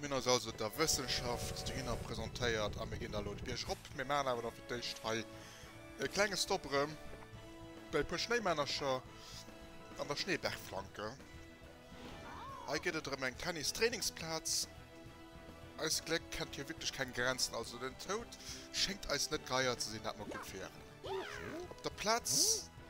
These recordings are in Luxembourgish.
Mir hunn eis also der Wëssenschaft dohinner presentéiert a mir ginn da elo de Bierg erop. Mir maachen awer da fir d'éischt hei e klenge Stop erëm bei e puer Schnéimännercher an der Schneebergflanke. Hei gëtt et erëm eng Tennis-Trainingsplaz. Eist Gléck kennt hei wierklech keng Grenzen, also den Toud schéngt eis net geier ze sinn, dat mer gutt wieren. Op der Plaz.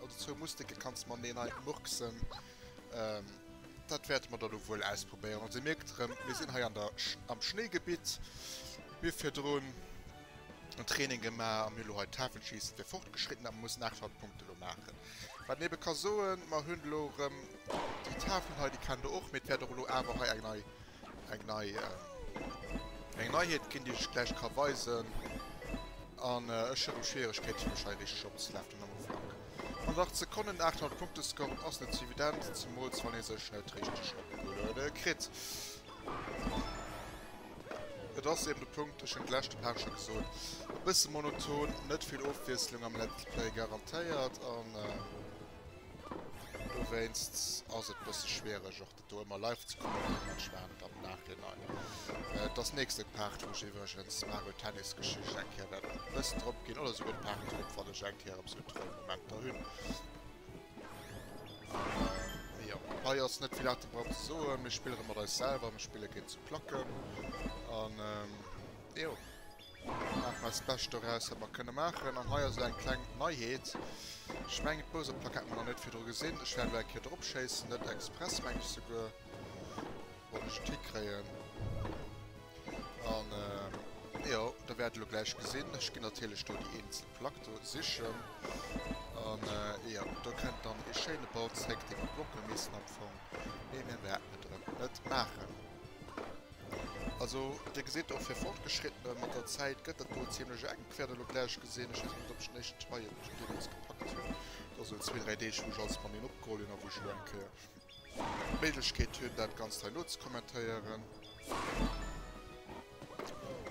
Oder zwou Musteke kanns de mateneen murksen. Dat wäerte mer dann elo wuel ausprobéieren. Also, Dir mierkt erëm, mir sinn hei am Schnéigebitt. Mir hu virdrun en Training gemaach a mir hu elo hei d'Hafenschiessen fir Fortgeschrittene. Mä mir mussen 800 Punkte elo maachen. Wat een ebe ka soen, Mer hunn elo erëm déi Tafelen hei, déi kennt Der och. Mee et wäert och elo awer hei eng nei eng nei eng Neiheet ginn, déi ech gläich ka weisen. An ech hunn Schwieregkeet fir mech hei richteg opzelafen am Ufank. Mat 8 Sekonnen 800 Punkte scoren ass net sou evident, zemools wann ee sech net richteg opgeluede kritt. Et ass eben de Punkt, ech hunn d'leschte Part scho gesot, e bësse monoton, net vill Ofwiesslung am Let's Play garantéiert an dowéinst ass et bësse schwiereg och Do hu mer live ze kucken am Match waren et am Nachhinein. Et ass nächste Part wou ech iwwregens d'Mario Tennis Geschicht eng Kéier wäert wëssen drop ginn oder souguer d'Part drop wann ech eng Kéier eppes un Troll Momenter hunn. An jo hei ass net vill Atemberaubend ze soen. Mir spillere mat eis selwer, mir spille géint zu Placken an jo. Mir maachen eist Bescht doraus, wat mer kënne maachen. An hei ass elo eng kleng Neiheet. Ech mengen, d'Bowser-Plack hat mer nach net virdru gesinn. Ech wäert elo eng Kéier drop schéissen, net express, mengen ech souguer. Wann ech et hikréien. An, jo, Der wäert elo gläich gesinn. Ech ginn natierlech do déi eenzel Plack do sichen. An, jo, do kënnt dann e schéine Ball zréck, dee mer blocke missten am Fong. Mee mir wäerten et erëm net maachen. Also Dir gesitt och fir Fortgeschrittene mat der Zäit gëtt dat do ziemlech enk. Wäert elo gläich gesinn. Ech weess net op ech den éischten Teil hei schon deemools gepackt hunn. Et ass elo zwee, dräi Deeg wou ech alles mat een opgeholl hunn a wou ech elo eng Kéier d'Méiglechkeet hunn dat Ganzt hei nozecommentéieren.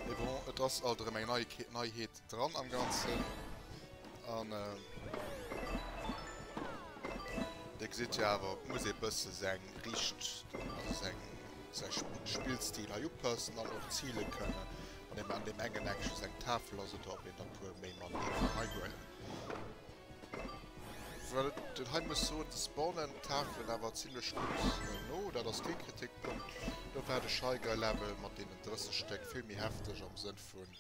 Mee bon, et ass alt erëm eng Neieke Neiheet dran am Ganzen. An Dir gesitt jo awer, et muss ee bësse seng richt also seng säi Spillstil hei upassen an och zile kënne. An eben an deem engen Eck just eng Tafel ass oder ob een der e puer méi man deem Ding heihuelen. Well den hei muss soen, de spawnen d'Tafelen awer zimlech gutt no, dat ass kee Kritikpunkt. Do war de Shy Guy Level mat deenen 30 Stéck vill méi hefteg am Sënn vun,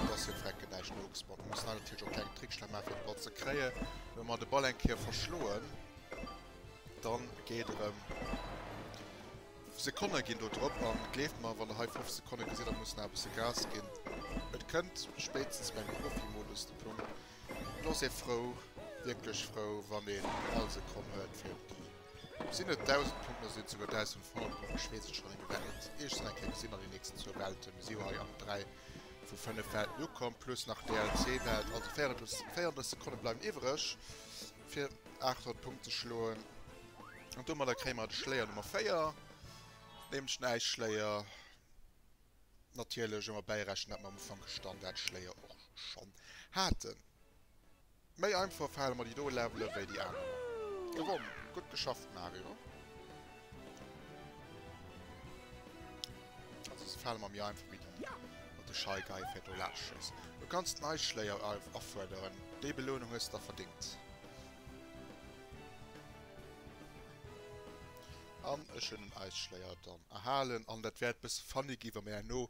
dass hie frecke näischt nogespawnt. Mir mussen hei natierlech och kleng Trickser maachen, fir de Ball ze kréien. Wa mer de Ball eng Kéier verschloen, da geet erëm. Sekonne ginn do drop, a gleeft mer, wann Der hei 5 Sekonne gesitt, da muss nach e bësse Gas ginn. Et kënnt spéitstens beim Profi-Modus de Punkt. Do ass ee frou, wierklech frou, wann een all Sekonn huet fir op déi, sinn et 1.000 Punkten, oder sinn et souguer 1.000 Fortune, ech weess et schonn net méi, wat et eescht sinn, eng Kéier gesinn an den nächsten zwou Welten. Mir si jo hei an dräi vu fënnef Welten ukomm, plus nach DLC-Welt, also 34 Sekonne bleiwen iwwereg fir 800 Punkte ze schloen. An domadder kréie mer de Schléier Nummer 4, nämlech den Äisschléier. natierlech ëmmer bäirechnen, datt mer am Ufank e Standardschléier och schonn haten. Méi einfach fale mer déi do Levele wéi déi aner. Gewonnen! Gutt geschafft, Mario. Also, se fale mer méi einfach wéi déi mat de Shy Guy fir do laanscht schéissen. Du kanns nei Schléier afuerderen. Déi Belounung hues de der verdéngt. An ech hunn den Äisschléier dann. Erhalen an dat wäert bësse funny gi wa mir herno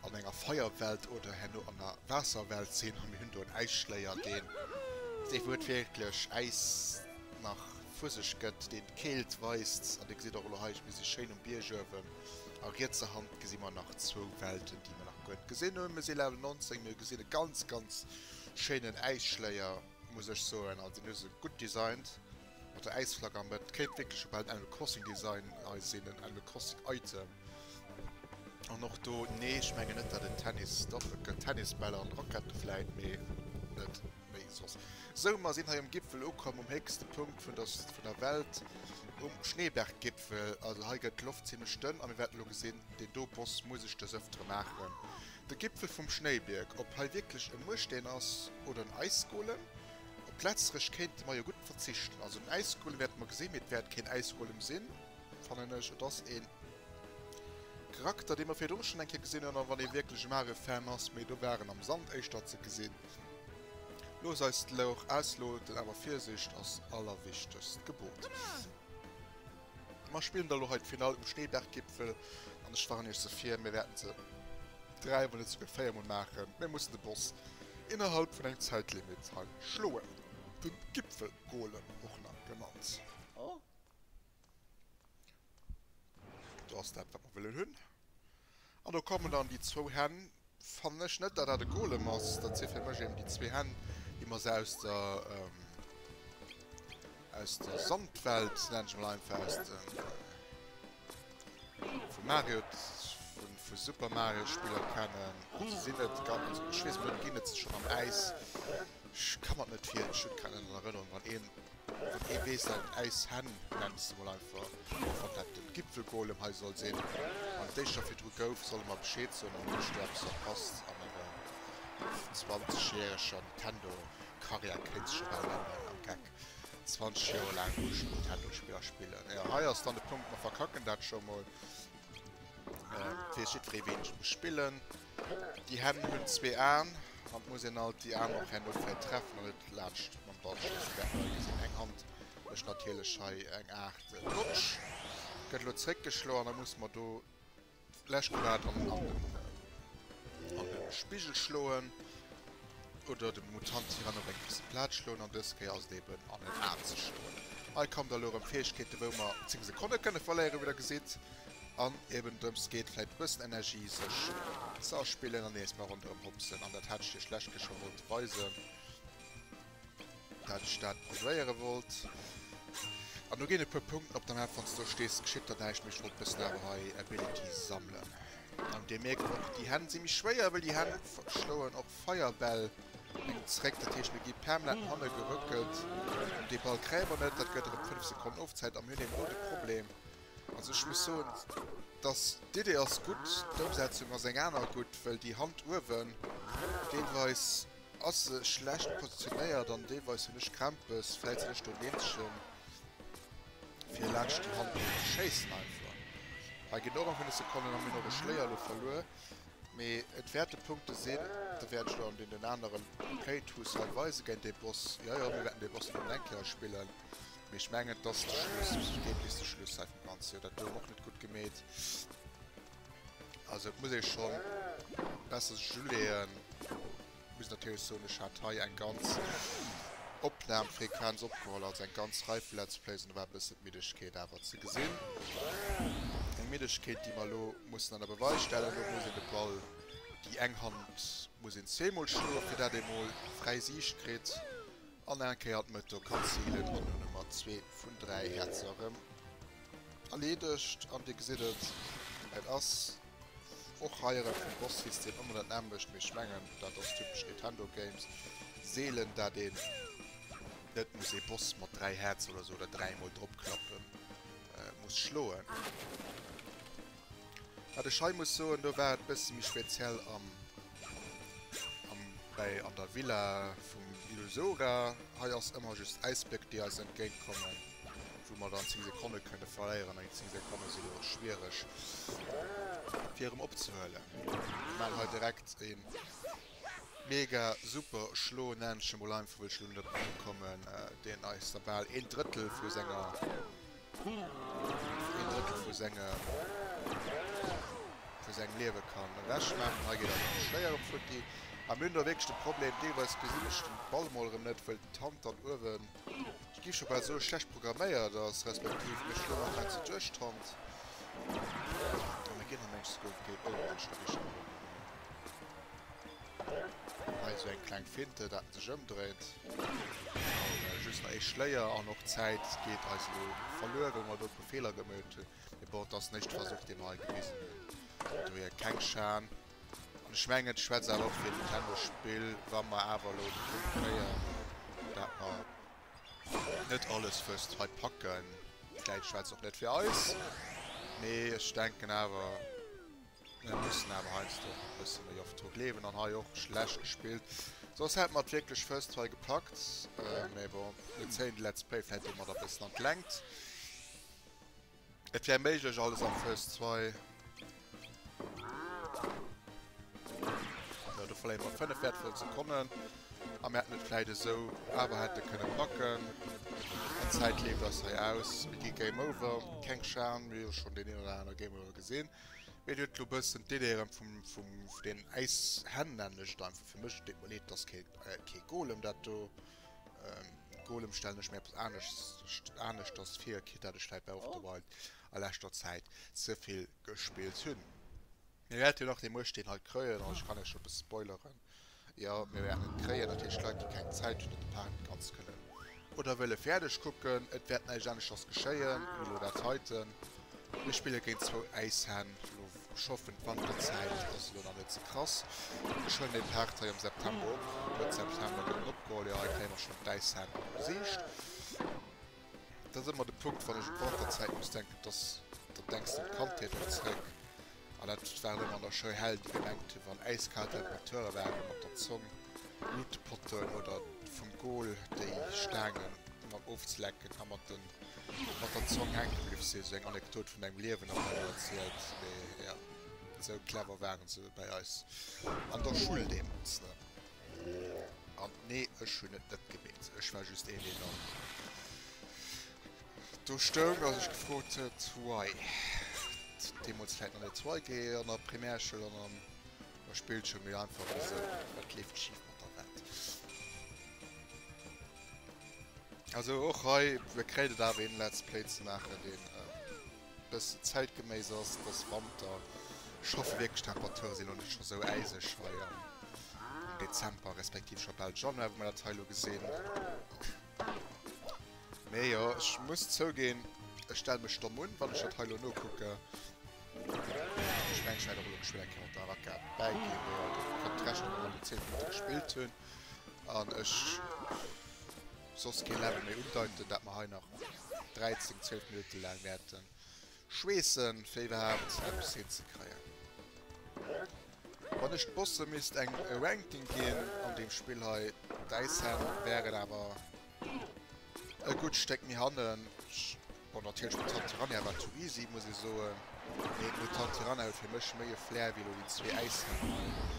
an enger Feierwelt oder herno an der Waasserwelt sinn a mir hunn do en Äisschléier, deen dee wou et wierklech Äis nach vu sech gëtt, deen d'Keelt weist. An Dir gesitt och elo hei, ech, mir si schéin um Bierg uewen a rietserhand gesi mer nach zwou Welten, déi mir nach guer net gesinn hunn. Mir si Level 19, mir gesinn e ganz, ganz schéinen Äisschléier, muss ech soen, also deen hu se gutt designt. Mat der Äisflagg am Bett kéint wierklech op en Animal Crossing Design eis een Animal Crossing Item an och do nee ech mengen net dat en Tennis dach et gëtt Tennisbäll an Rackette vläit mee net méi soss sou mer sinn hei um Gipfel ukomm um héchste Punkt vun der vun der Welt um Schneeberggipfel also hei gëtt d'Loft zimlech dënn a mir wäerten elo gesinn deen do Boss muss ech des ëftere maachen de Gipfel vum Schnéibierg ob hei wierklech e Mueschteen ass oder en Äisgolem. Op Plätzreg kéinte mer jo gutt verzichten. Also den Äisgolem wäerte mer gesinn, mee et wäert keen Äisgolem sinn, fannen ech. Et ass ee Charakter, dee mer virdru schonn eng Kéier gesinn hunn, wann ee wierklech e mare Fan ass, mee do war en am Sand éischter ze gesinn. Looss eis d'Lauch ausloten, awer Virsicht ass allerwichtegst Gebot. Mer spillen da lo hei d'Finall um Schneeberggipfel an ech warnen iech se vir, mir wäerten se 3 mol net souguer 4 mol maachen, mir mussen de Boss innerhalb vun engem Zäitlimit hei schloen, den Gipfelgolem och nach genannt. Oh. Do ass dat wat mer wëllen hunn. An do kommen dann déi zwou Hänn. Fannen ech net, datt dat e Golem ass. Dat si fir mech eben déi zwee Hänn, déi mer esou aus der, aus der Sandwelt, nennen ech emol einfach, aus dem, vum Mario, vu Super Mario Spiller kennen. Se sinn net ganz, ech weess et net, ginn et se schonn am Äis? Ech ka mer et net virstellen, ech hunn keng Erënnerung, wann een Wee weess dat äis Hänn, nennen ech se mol einfach, och wann dat den Gipfelgolem hei soll sinn, an d'Déischter virdru gouf, solle mer Bescheed soen an iech do eppes verpasst an enger 20 järeger Nintendo Karriär kéint sech ewell änneren am Geck, 20 Joer laang muss een Nintendo Spiller spillen, jo hei ass dann de Punkt, mer verkacken dat scho mol, et weess jiddweree wéini ech muss spillen. Déi Hänn hunn zwee Aen an et muss een alt déi Aen och herno fäi treffen an net laanscht mam Ball schiessen. Dat mer hei gesinn, eng Hand mécht natierlech hei eng Aart Rutsch, gëtt elo zréckgeschloen an da musse mer do lech grad an an de Spigel schloen oder dem Mutant Tyrann op eng fest Plaz schloen an dës Kéier ass et eben an en Aen ze schloen. Hei kommen da elo erëm Fäegkeeten, wou mer 10 Sekonne kënne verléieren, wéi der gesitt. An eben drëms geet vläit e bëssen Energie sech ze erspillen an nees mol ronderëm hopsen. An dat hat ech iech d'lescht Kéier scho wollt weisen, dat ech dat probéiere wollt. An do ginn e puer Punkten op der Map, wann s de do stees, geschitt der näischt méi. Ech wollt e bëssen awer hei Ability sammelen. An dir mierkt och, déi Hänn si méi schwéier, well déi Hänn schloen och Feierbäll hin zréck. Dat heescht, mir gi permanent no hanne gerëckelt. Dee Ball kréie mer net, dat gëtt erëm 5 Sekonnen Ofzäit. A mir hunn eben do de Problem, Also ech muss soen dass d'Idee ass gutt, d'Ëmsetzung ass eng aner gutt, well déi Hand uewen deelweis ass se schlecht positionéiert an deelweis hunn ech Krämpes, fält se lech do Neemchen fir laanscht déi Hand do ze schéissen einfach. Hei ginn och nach hunn ech se konnen an hunn och e Schléier lo verluer, mee et wäerte Punkte sinn, da wäert ech der an deenen aneren Playthroughs hei weisen, géint dee Boss, jo jo mir wäerten dee Boss nach eng Kéier spillen. Mee ech mengen, et ass de Schluss. Ech ginn deem bis de Schluss hei vum Ganze. Jo, dat gouf och net gutt gemeet. Also, et muss ee schonn besser sech uleeën. Ech muss natierlech soen, ech hat hei eng ganz Opnamfrequenz opgeholl, also eng ganz Rei vu Let's Plays, an do war e bëssen d'Middegkeet awer ze gesinn. Eng Middegkeet, déi mer elo mussen an der Beweis stellen. Elo muss een de Ball, déi eng Hand muss een zweemol schloen, fir dat ee mol fräi Siicht kritt. An eng Kéier d'Mëto kann zilen an hunn emmer zwee vun dräi Häerzer erëm erleedegt. An Dir gesitt et, et ass och hei erëm vum Boss-System ëmmer dat nämmlecht, mee ech mengen dat ass typesch Nintendo Games, seelen dat een net muss ee Boss mat dräi Häerzer oder esou oder dräi mol drop klappe muss schloen. Wat ech hei muss soen, do war et bësse méi speziell am. Am Bäi an der Villa vum Illusoga. Hei ass ëmmer just Äisbléck déi eis entgéint kommen, wou mer dann 10 Sekonne kënne verléieren. An déi 10 Sekonne sinn elo schwiereg fir erëm opzehuelen. Mir maan hei direkt e mega super Schlo, nennen ech e mol einfach well ech elo net op en Numm kommen, deen eis da bal een Drëttel vu senger. Een Drëttel vu sengem Liewe kann ewech maachen. Hei geet awer nach Schléiere futti. A mir hunn do wierklech de Problem, deelweis gesinn ech den Ball mol erëm net, wëll d'Hand-Hand uewen, ech gi scho bal soe schlecht programméiert ass, respektiv mech elo nach bausse duerch d'Hand an de Génnermensch esou gouf, géif ënnermenschlech richteg. Hei sou eng kleng Finte dat en sech ëmdréit. An just nach ee Schléier an och d'Zäit geet eis elo verluer well mer do e puer Feeler gemeet hunn. Mee bon, et ass den éischte Versuch dee mer hei gewisen hunn, vun dohier keng Schan. An ech mengen et schwätzt awer och fir e Nintendo Spill wa mer awer elo de Punkt kréien dat mer net alles fësst hei packen. Vläit schwätzt och net fir eis, mee ech denken awer. Mir mussen awer heiansdo och e bësse méi oft dru gleewen an hei och schlecht gespillt. Soss hätte mer et wierklech fësst hei gepackt. Mee bon, mir zéien de Let's Play vläicht domat e bëssen an d'Längt. Et wär méiglech alles am fësst hei. Jo, do verléiere mer 5 wäertvoll Sekonnen. A mir hätten et vläicht esou awer hätte kënne packen. An d'Zäit leeft eis hei aus. Mir gi Game Over. Keng Schan, mir hu jo schonn deen een oder anere Game Over gesinn. Mir duet lo bëssen d'Ideeën vum vum den äis Hänn nämmlecht einfach fir mech deet mer leed dass ke kee Golem dat do Golem stellen ech mir eppes anescht aneschters vir kee dat ech vläit bei Off the Wild a leschter Zäit ze vill gespillt hunn. Mir wäerten jo nach dee Muecht deen hei kréien an ech kann iech scho bësse spoileren. Jo, mir wären et kréien, natierlech Leit, déi keng Zäit hunn, dat de Park net ganz kënnen oder wëlle fäerdeg kucken. Et wäert näischt aneschters geschéien wéi elo dat heiten. Mir spille géint zwou Äishänn. Elo schoffen d'Wanterzäit, dat ass elo nach net ze krass. Ech huelen dee Part hei am September op. Mëtt September gëtt en opgeholl. Jo, hei kréie mer schonn d'Äishänn besicht. Dat ass ëmmer de Punkt, wann ech un d'Wanterzäit muss denken, dass dann denks de un d'Kandheet och zréck. An dat waren ëmmer nach schéi Hell, déi gemengt hunn, wann äiskal Temperature waren, mat der Zong nut de Potten oder vum Goal déi Staange mat ofzelecken a mat der Zong hänke bliww sinn. Esou eng Anekdot vun engem Liewen ass elo erzielt, mee jo, esou clever waren se bei eis an der Schoul deemools net. An nee ech hunn et net gemeet, ech war just een deen dann do stoung a sech gefrot huet why. Deemools vläit nach net why ge an der Primärschoul an an der Spillschoul mee einfach wisou, wat leeft schif mat der Welt. Also och hei, e kréit et awer een Let's Play ze maachen deen bëssen zäitgeméiss ass dëss Wanter schaffen. Wierklech Temperaturen sinn lo net scho sou äiseg hei am Dezember respektiv scho bal Januar wou mer dat hei lo gesinn. Mee jo ech muss zouginn ech stell mech domm un wann ech dat hei lo nokucken. Ech mengen ech wäert och elo geschwënn eng Kéier mat der Araka bäiginn. Mee jo et kënnt rechnen datt mer lo 10 Minutte gespillt hunn an ech. soss kee Level méi undeiten, dat mer hei nach 13, 12 Minutte laang wäerte schweessen, fir iwwerhaapt eppes hinzekréien. Wann ech d'Bosse misst eng Ranking ginn an deem Spill hei, d'Äis Hänn wäeren awer e gutt Stéck méi hannen. Bon, natierlech Mutant Piranha war too easy, muss ee soen. Mee d'Mutant Piranha huet fir mech méi e Flair wéi elo déi zwee Äis Hänn hei.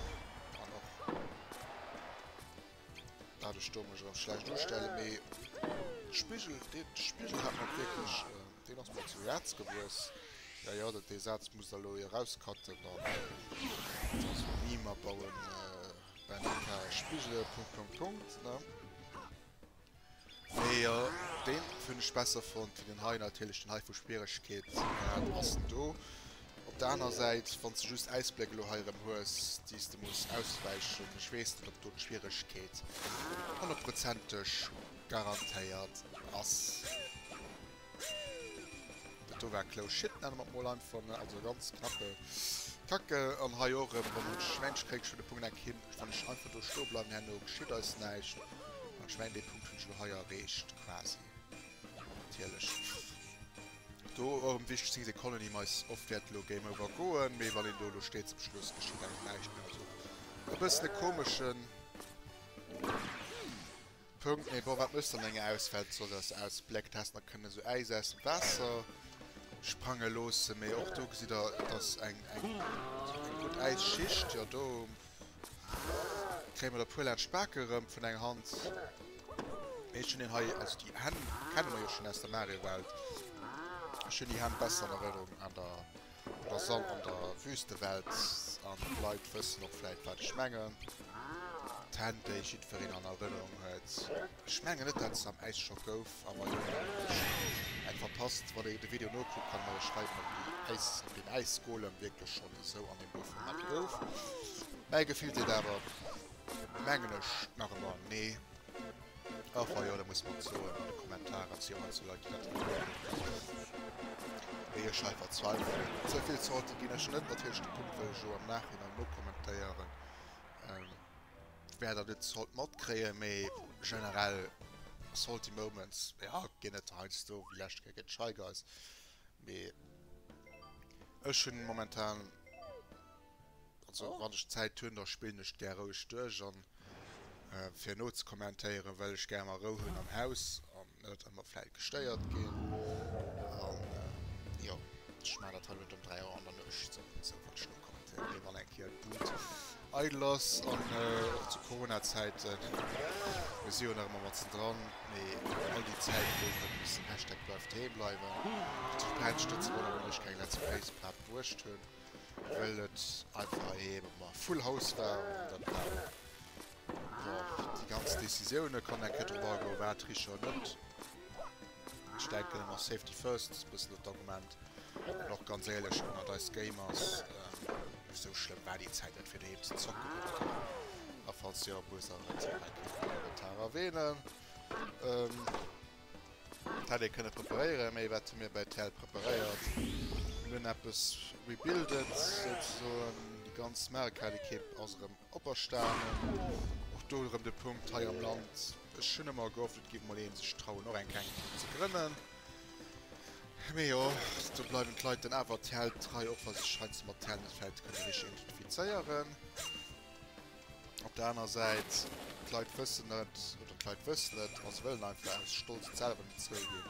Daat ech do mech erem schlecht ustellen, mee d'Spigel, deen Spigel hat mer wierklech, deen ass mer zu Häerz gewuess. Ja ja, dat dee Saz muss der elo jo rauscutten dann, also Meme abauen, Benny K. Spigele. Punkt Punkt Punkt ne. Nee jo deen hunn ech besser fonnt wéi den hei, natierlech den hei vu Schwieregkeetsgrad ass en do op der aner Säit wann s de just Äisbléck elo hei erëm hues déi s de muss auswäichen, ech weess net op do d'Schwieregkeet honnertprozenteg garantéiert ass. Dat do war close shit, nenne mer et mol einfach, ne? Also ganz knappe Kacke. An hei och erëm, wann dat Schwäin kréich vun de Punkt eng Kim. Wann ech einfach do stoe bleiwen, herno geschitt eis näischt. An ech mengen, dee Punkt hunn ech elo hei erreecht, quasi. Natierlech do och erëm wichteg, 10 Sekonnen, déi mais oft wäerte elo Game Over goen. Mee wann een do elo steet zum Schluss, geschitt engem näischt méi. Also e bëssen e komeschen. Punkt, mee bon, wat méchs de an enger Ausfahrt? Soll der se aus Black Test nach kënne sou Äis aus dem Waasser sprange loossen? Mee och do gesitt der, et ass eng gutt Äisschicht. Jo, do kréie mer der e puer laanscht d'Bake erëm vun enger Hand. Mee ech hunn deen hei, also déi Hänn kenne mer jo schonn aus der Mario-Welt. Ech hunn déi Hänn besser an Erënnerung an der. Et ass all an der Wüstewelt an d'Leit wëssen och vläit wat ech mengen. D'Hänn déi jiddwereen an Erënnerung huet. Ech mengen net dat se am Äis scho gouf, awer jo wierklech eng verpasst. Wann een de Video nokuckt kann een eis schreiwen op déi Äis, op deen Äisgolem wierklech schonn esou an deem Bauformat gouf. Mäi Gefill seet awer, mengen ech, nach ëmmer nee. Och hei oder muss mat soen an de Kommentarer si ëmmer zu Leit déi dat geduecht hunn. Wéi ech hei verzweifelen. Sou vill Zorte ginn ech net, natierlech de Punkt wëll ech elo am Nachhinein nokommentéieren wär der net sollt matkréien, mee generell salty moments jo ginn et heiansdo, wéi lescht Kéier géint Shy Guys, mee ech hunn momentan. Also wann ech Zäit hunn, da spillen ech d'gär roueg duerch an fir no ze kommentéieren, well ech gär mer Rou hunn am Haus an net ëmmer vläit gestéiert ginn. An jo, ech maachen dat hei net ëm 3 Auer an der Nuecht, sondern esou well ech no kommentéieren, mee wann eng Kéier d'Bud eidel ass an och zu Corona-Zäiten, mir si jo nach ëmmer matzen dran, mee all déi Zäit gouf et bis den Hashtag Bleif doheem bleiwen, duerch d'Brennschten ze wonnere wann ech keng Let's Plays iwwerhaapt bruecht hunn. well et einfach ee Full House war an dat war och déi ganz Décisioune kann eng Kéier drop agoen, war Triche oder net. Ech denken ëmmer Safety first ass e bëssen dat Argument an och ganz éierlech ënnert eis Gamers, esou schlëmm war déi Zäit net fir doheem ze zocken oder esou a falls jo, wou ass dat, dat kann een an de Kommentar erwähnen. Et hätt ee kënne preparéieren, mee wat hu mir bei Tell preparéiert? Mir hunn eppes rebuildet souzesoen, déi ganz Marekälekipp ass erëm operstanen. Och do erëm de Punkt hei am Land, ech hunn ëmmer gehofft et géif emol een sech trauen och eng kleng Ekipp ze grënnen. Mee jo, do bleiwen d'Leit dann awer Tell trei, och wa sech heiansdo mat Tell net fält kënne richteg identifizéieren. Op der aner Säit, d'Leit wëssen net, oder d'Leit wëssen et, ma se wëllen einfach aus Stolz et selwer net zouginn,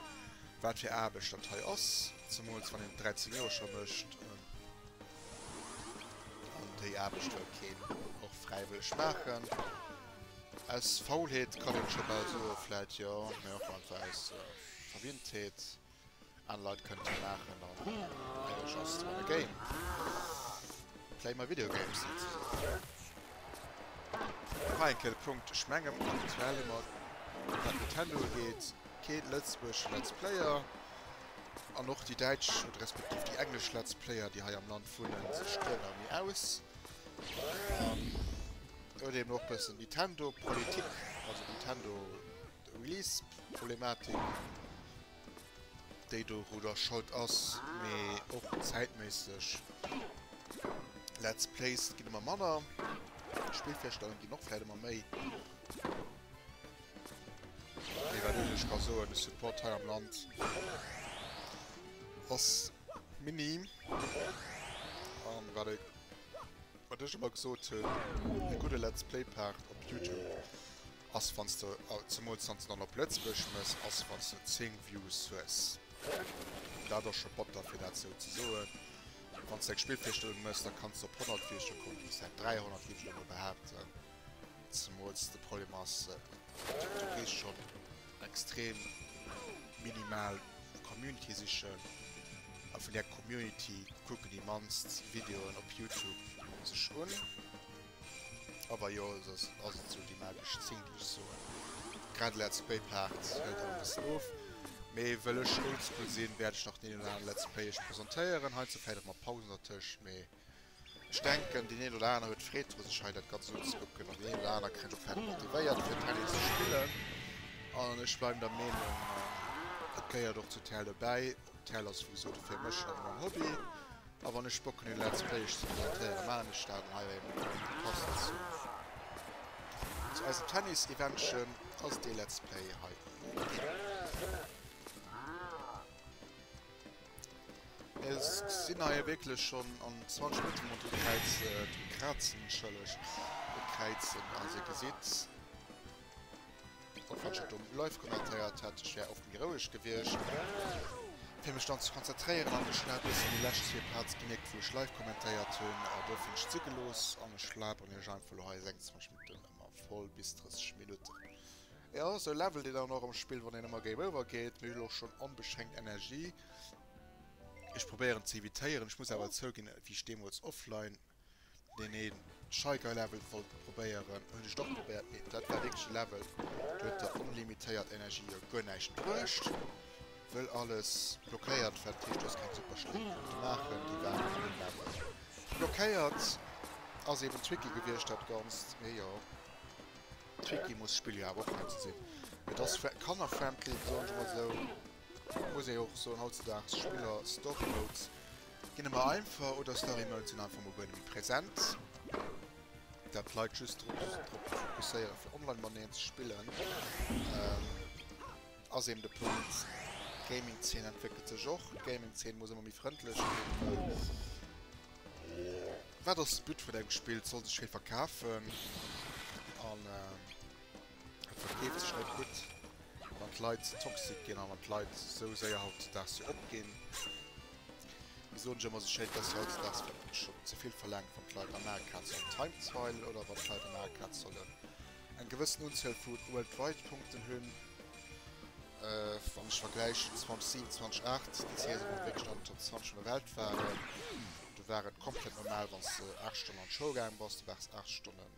wat fir Aarbecht dat hei ass, zemools wann een et 13 Joer scho mécht. An déi Aarbecht wëll keen och fräiwëlleg maachen. Aus Faulheet kann een scho bal soen, vläicht jo, mä och einfach aus Verwinntheet. Aner Leit kënnten laachen an Age just wanna game play my video games net ze soen. Nach eng Kéier de Punkt, ech mengen aktuell hu mer, wat Nintendo ugeet, kee Lëtzebuerg Let's Player. An och déi däitsch oder respektiv déi englesch Let's Player, déi hei am Land wunnen, se striewen a mir aus. An elo deemno och e bëssen Nintendo-Politik, also Nintendo. D'Release-Problematik, déi dorudder schold ass, mee och zäitméisseg Let's Plays ginn ëmmer manner, Spillvirstellungen ginn och vläit ëmmer méi. Mee wat ech lech ka soen, de Support hei am Land ass minim. A wat e, wat ech ëmmer gesot hunn, e gudde Let's Play-Part op YouTube. Ass wanns de zemols wanns de dann op Lëtzbuerg mëss ass wanns de 10 Views hues dat ass scho batter fir dat sou ze soen. Wanns de eng Spillvirstellung mëss da kanns de op 100 Virstellung kommen bis hei 300 géif ech emol behaapten zemols de Problem ass du gees schon extrem minimal Community sichen a vun där Community kucken déi mannst Videoen op Youtube sech un. Awer jo, soss ass et sou déi magesch Zéng, déi ech soen. Grad Let's Play Part hëlt awer e bëssen of, mee wëll ech oldschool sinn, wäert ech nach den een oder anere Let's Play iech presentéieren. Heiansdo vläit och mat Pausen dertëscht, mee ech denken, deen een oder anere huet Freed dru sech hei dat Ganzt unzekucken an deen een oder anere kënnt och vläit motivéiert fir TLD ze spillen. An ech bleiwen der Meenung, et gehéiert och zu TLD bäi, D'Hell ass souwisou de fir mech ëmmer en Hobby a wann ech Bock hunn e Let's Play iech ze presentéieren maachen ech dat an hei wei ëmmer kënnt passend zu zu eisem Tennis Eventchen ass dee Let's Play hei Mir sinn hei wierklech schonn an 20 Minutten ronderëm d'Kräiz krazen entschëllegt, d'Kräizen, a se gesitt. Wann falsch et um live kommentéiert hätt ech wär oft méi roueg gewiescht fir mech dann ze konzentréieren an ech hat bessen déi lescht zwee Parts gemierkt wou ech live kommentéiert hunn a duerfir hunn ech et si gelooss an ech laberen iech einfach lo hei 26 Minutten ëmmer voll bis 30 Minutten. Jo sou levelt een dann och am Spill wann een ëmmer Game Over geet mee ech hunn elo schonn onbeschränkt Energie. Ech probéieren ze evitéieren, ech muss awer zouginn wéi ech deemools offline. Deen een shy guy level wollt probéieren hun ech et och probéiert mee dat war wierklech e level do huet der onlimitéiert energie jo guer näischt bruecht wëll alles blockéiert war dat heescht du has keng super schléi konnte maachen déi waren an deem level blockéiert ass eben tricky gewiescht dat ganzt mee jo tricky muss d'spill jo awer och heiansdo sinn et ass kannerfriendly soen ech mol esou. Dofir muss ee och soen, hautzedags Spiller, Story Modes ginn ëmmer einfach, oder Story Modes sinn einfach mol guer net méi präsent. Dat d'Leit just drop fokusséieren, fir online mateneen ze spillen, ass eben de Punkt. D'Gaming-Zeen entwéckelt sech och. D'Gaming-Zeen muss ëmmer méi frëndlech ginn. Wat ass de But vun engem Spill? Et soll sech wéi verkafen. An Et verkeeft sech net gutt, wann d'Leit ze toxic ginn a wann d'Leit esou séier hautzedaags fir opginn. Mir soen ech ëmmer esou schéin, dass hautzedaags schonn ze vill verlaangt, wann d'Leit am Maart Kaz sollen timeswile oder wann d'Leit am Maart Kaz sollen eng gewëssen Unzuel vu Worldwide Punkten hunn. Wann ech vergläichen 2007, 2008, déi Saison wou mer wierklech an den Top 20 vun der Welt waren, do war et komplett normal, wann s de 8 Stonnen an d'Schoul gaange bass, du waars 8 Stonnen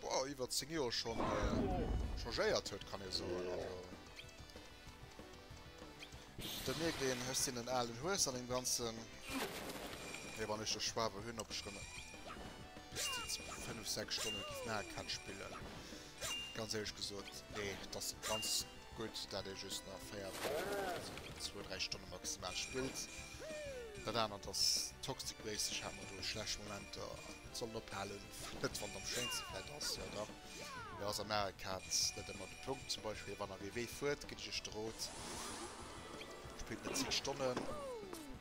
Boah, iwwer 10 Joer schon äh, changéiert huet kann ee soen also. Da mierkt een hues sinn en alen Hues an dem ganzen. Hei wann ech de Schwabe hunn op schrënne bis die 5 6 Stonne na kann spillen. Ganz ehrlech gesot nee dass se ganz gutt dat ee just nach 4 2 3 Stonne maximal spillt. Dat anert ass toxic waste, ech hat mer do schlecht Momenter sollen ophalen. Net wann et am schéinste Bett ass, jo dach, mee ass an aer Kaz net emmer de Punkt. Zum Beispill wann der WW fuert, ginn ech iech de Rot, spillt net zéng Stonnen,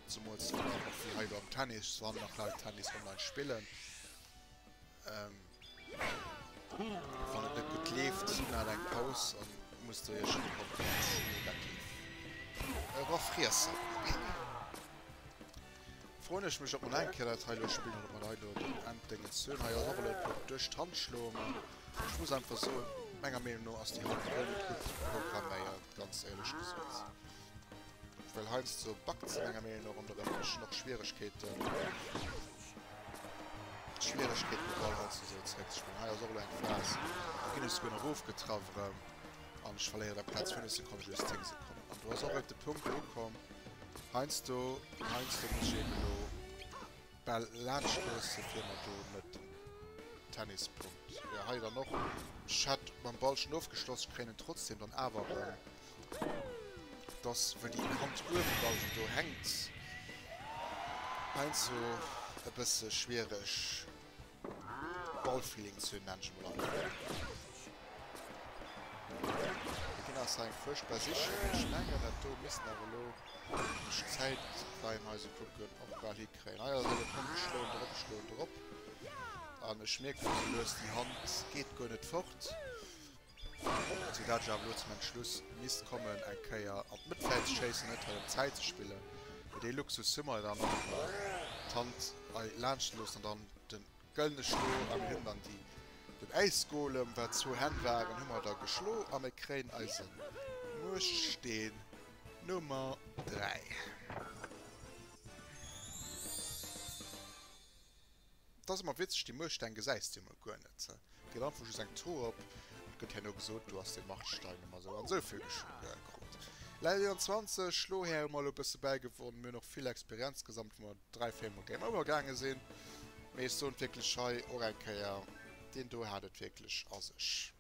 zumools wann der och wéi hei elo am Tennis wann nach Leit Tennis online spillen. Wann et net gutt leeft, maacht eng Paus a musst der iech ee Botz, negativ, erofriessen. Froen ech mech op mer nach eng Kéier dat hei elo spillen oder op mer hei elo den Enddéngens hun. Hei ass och elo d'Pupp duerch d'Hand schloen, ma ech muss einfach soen, menger Meenung no ass déi Hand guer net gutt programméiert, ganz éierlech gesot. Well heiansdo backt se menger Meenung no erëm, doduerch hunn ech och Schwieregkeeten, Schwieregkeeten de Ball heiansdo esou zeréck ze spillen. Hei ass och elo eng Phas, do ginn ech souguer nach ofgetraff erëm. An ech verléieren der Plaz 5 Sekonnen, just 10 Sekonnen. An do ass och et de Punkt ukomm, heiansdo, heiansdo muss ech eben elo d'Bäll laanscht loossen, fir mer do net den Tennispunkt, jo, hei dann och, ech hätt mam Ball schonn ofgeschloss, ech kréien en trotzdem dann awer erëm, et ass wëll déi Kant uewen da esou do hänkt, heiansdo e bësse schwiereg. Ballfeelings hunn, nenne ech emol einfach. Dee Kinn ass eng fuerchtbar Sich. Ech mengen, dat do misst nach elo ech Zäit beim eise Kucken och bal hikréien. Hei ass et elo komm, geschloen drop, geschloen drop. An ech mierken, déi lues, déi Hand geet guer net fort. Soudatt ech awer elo zum Entschluss misst kommen, eng Kéier an d'Mëttfeld ze schéissen, net well ëm d'Zäit ze spillen, mee dee Luxus hu mer jo dann och nach, d'Hand hei laanscht ze loossen an dann de gëllene Schlo a mir hunn dann déi, den Äisgolem, wat zwou Hänn waren, hu mer da geschlo a mir kréien eise Muechtsteen Nummer 3. 't ass emmer witzeg, déi Muerstein gesäis de jo emol guer net, déi hat einfach just eng Tour op, et gëtt herno gesot, do ass dee Martstein emmer esou an esou vill gekrut. Leit 21, Schlo Här hu mer elo e bësse bäigewonn, mir hunn och vill Experienz gesammelt, wou mer dräi, véier Mol Game Over gaange sinn, mee ech soen wierklech hei och eng Kéier, deen do hat et wierklech a sech.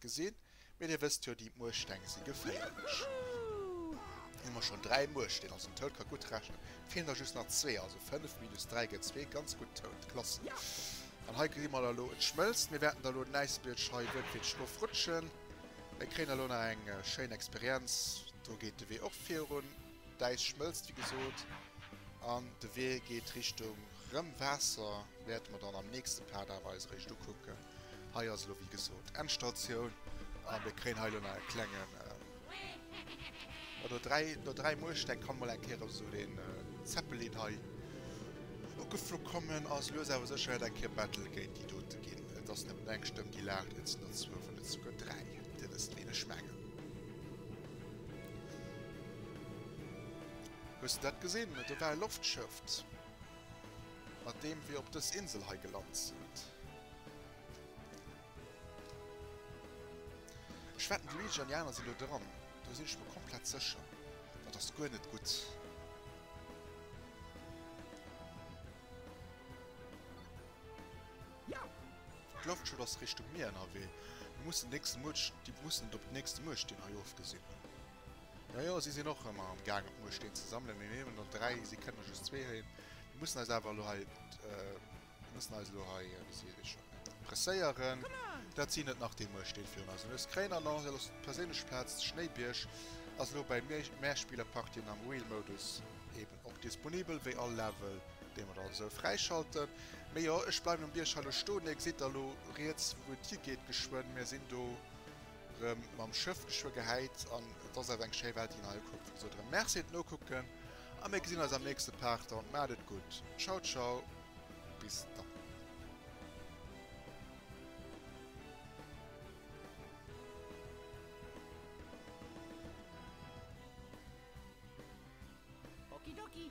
Gesinn, mee dir wësst jo, déi Muersteng si geféierlech. Elo hu mer schonn dräi Muersteen, also den Toad ka gutt rechnen. Et feelen der just nach zwee, also fënnef minus dräi gëtt zwee. Ganz gutt, Toad, klasse! An hei gesi mer da elo, et schmëlzt. Mir wäerten da elo den Äisbietsch hei wueltierteg ofrutschen. Mir kréien da elo nach eng schéin Experienz. Do geet de Wee och virun. D'Äis schmëlzt, wéi gesot, an de Wee geet Richtung rëm Waasser. Wäerte mer dann am nächste Part awer eis eréischt ukucken. Hei ass elo wéi gesot Endstatioun a mir kréien hei elo nach e klengen jo no 3, no 3 Muersteng kann mol eng Kéier esou den Zeppelin hei ugeflu kommen a lues awer sécher wäert eng Kéier Battle géint déi dote ginn. Et ass net eng Stëmm déi laacht, et sinn der zwou, wann net souguer dräi, Dir wësst ween ech mengen. Hues de dat gesinn? Do war e Loftschëft. Mat deem wir op dës Insel hei gelant sint. Ech wetten de Luigi an déi aner sinn do dran. Do sinn ech mer komplett sécher. Dat ass guer net gutt. D'Loftschut ass Richtung Mier ënnerwee. Mir mussen den nächsten Muerch, déi mussen et op den nächsten Muerch, deen hei ofgesinn hunn. Jo, jo, si sinn och ëmmer am Gaang, op Mueschteen ze sammelen. Mir nemen der dräi, si kënnen just zwee héien. Mir mussen eis awer elo hei, mir mussen eis elo hei, wéi seet ee schonn, presséieren. Dat sinn et nach, déi Mueschteen virun eis. An eis gréin Annonce, dat ass d'perséinlech Plaz, de Schnéibierg ass elo bäi mir. Mär spille Partien am Wheel-Modus, eeben och disponibel wéi all Level, dee mer da esou fräischalten. Mee jo, ech bleiwen um Bierg hei elo stoen. Dir gesitt da elo riets, wou et higeet geschwënn. Mir sinn do. Rem mam Schëff geschwë gehäit an et ass awer eng schéi Welt déi een hei ukuckt. Wéi gesot rem Merci et nokucken a mir gesinn eis am nächste Part dann. Maacht et gutt. Ciao ciao bis dann. Okidoki.